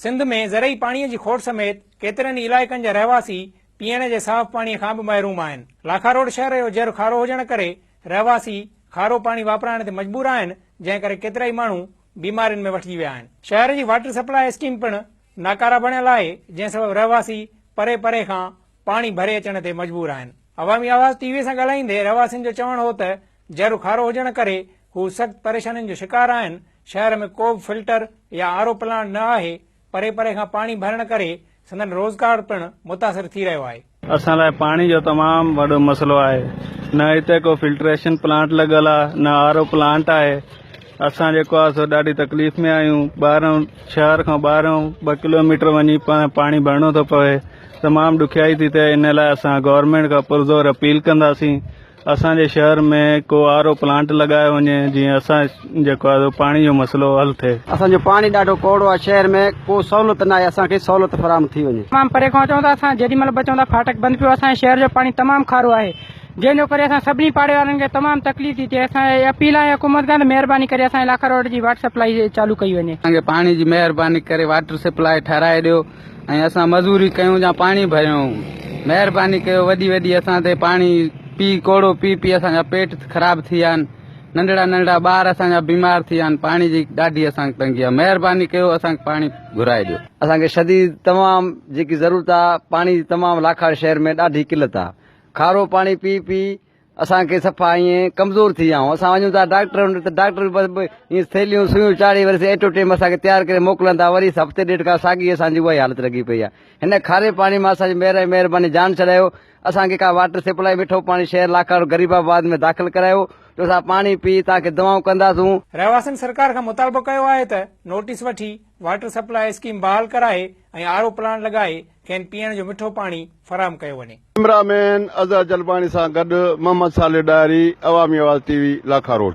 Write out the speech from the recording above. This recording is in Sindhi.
سنڌ ۾ زرعي پاڻي جي کوٽ سميت ڪيترن ئي علائقن جا رهواسي پيئڻ جي صاف پاڻي کان به محروم آهن. لاکاروڊ شهر جو جر کارو هجڻ ڪري رهواسي کارو پاڻي واپرائڻ تي مجبور آهن جنهن ڪري ڪيترائي ماڻهو بيمارين ۾ وٺجي ويا آهن. شهر جي واٽر سپلاء اسڪيم پڻ ناڪاره بڻيل آهي جنهن سبب رهواسي پري پري کان پاڻي ڀري اچڻ تي مجبور آهن. عوامي آواز ٽي وي سان ڳالهائيندي رهواسين جو چوڻ هو ته جهر کارو هجڻ ڪري هو سخت پريشانين جو شڪار آهن، شهر ۾ ڪو به فلٽر يا آر او پلانٽ نه آهي، پري پري کان پاڻي ڀرڻ ڪري سندن روزگار پڻ متاثر ٿي رهيو آهي. اسان لاء پاڻي جو تمام وڏو مسئلو آهي، نه هتي ڪو فلٽريشن پلانٽ لڳل آهي نه آر او پلانٽ آهي، اسان جيڪو آهي سو ڏاڍي تڪليف ۾ آهيون، ٻاهران شهر کان ٻاهران ٻه ڪلوميٽر وڃي پاڻي ڀرڻو ٿو پوي، تمام ڏکيائي ٿي ٿئي، ان لاء اسان گورنمينٽ کان پرزور اپيل ڪنداسين اسان جي شهر ۾ ڪو آر او پلانٽ لڳايو وڃي جيئن اسان جيڪو آهي سو پاڻي جو مسئلو حل ٿئي. اسان جو پاڻي ڏاڍو ڪوڙو آهي شهر ۾ ڪو سهولت ناهي اسان کي سهولت فراهم ٿي وڃي. تمام پري کان اچون ٿا اسان جيڏي مهل به اچون ٿا ڦاٽڪ بند پيو آهي اسان جي شهر جو پاڻي تمام کارو آهي جنهن جو ڪري اسان سڀني پاڙي وارن کي تمام تڪليف ٿي ٿئي اسان اهي اپيل آهي حڪومت کان ته مهرباني ڪري اسان جي لاکا روڊ جي واٽر سپلائي چالو ڪئي وڃي. اسان کي پاڻي جي مهرباني ڪري واٽر سپلائي ٺهرائي ڏيو. ۽ اسان مزوري ڪيون يا پاڻي ڀريون مهرباني ڪيو وڏي وڏي اسان تي پاڻي پي ڪوڙو پي پي اسان جا پيٽ خراب ٿي ويا آهن ننڍڙا ننڍڙا ٻار اسان جا بيمار ٿي ويا آهن پاڻي جي ڏاڍي اسان کي تنگي آهي مهرباني ڪيو اسان کي پاڻي گهرائي ڏيو اسان کي شديد تمام جيڪي ضرورت آهي پاڻي جي تمام لاکاڙي شهر ۾ ڏاڍي قلت آهي کارو پاڻي پي پي اسان کي صفا ائين ڪمزور ٿي ويا آهيون، اسان وڃون ٿا ڊاڪٽر وٽ ته ڊاڪٽر به ائين ٿيلهيون سوئيون چاڙهي وري ايٽو ٽيم اسان کي تيار ڪري موڪلن ٿا، وري هفتي ڏيڍ کان ساڳي اسان جي اها ئي حالت لڳي پئي آهي. هن کاري پاڻي مان اسان جي مهر ۽ مهرباني جان ڇڏايو، اسان کي ڪا واٽر سپلائي مٺو پاڻي شهر لاکاڻو غريب آباد ۾ داخل ڪرايو جو اسان پاڻي پي توهان کي دعائون ڪنداسون. رهواسين سرڪار کان مطالبو ڪيو آهي ته نوٽيس وٺي واٽر سپلائي اسڪيم بحال ڪرائي ۽ آر او پلانٽ لڳائي کين پيئڻ جو مٺو پاڻي فراهم ڪيو وڃي. ڪيمرا مين اظهر جلباڻي سان گڏ محمد صالح ڏاهري، عوامي آواز ٽي وي، لاکاروڊ.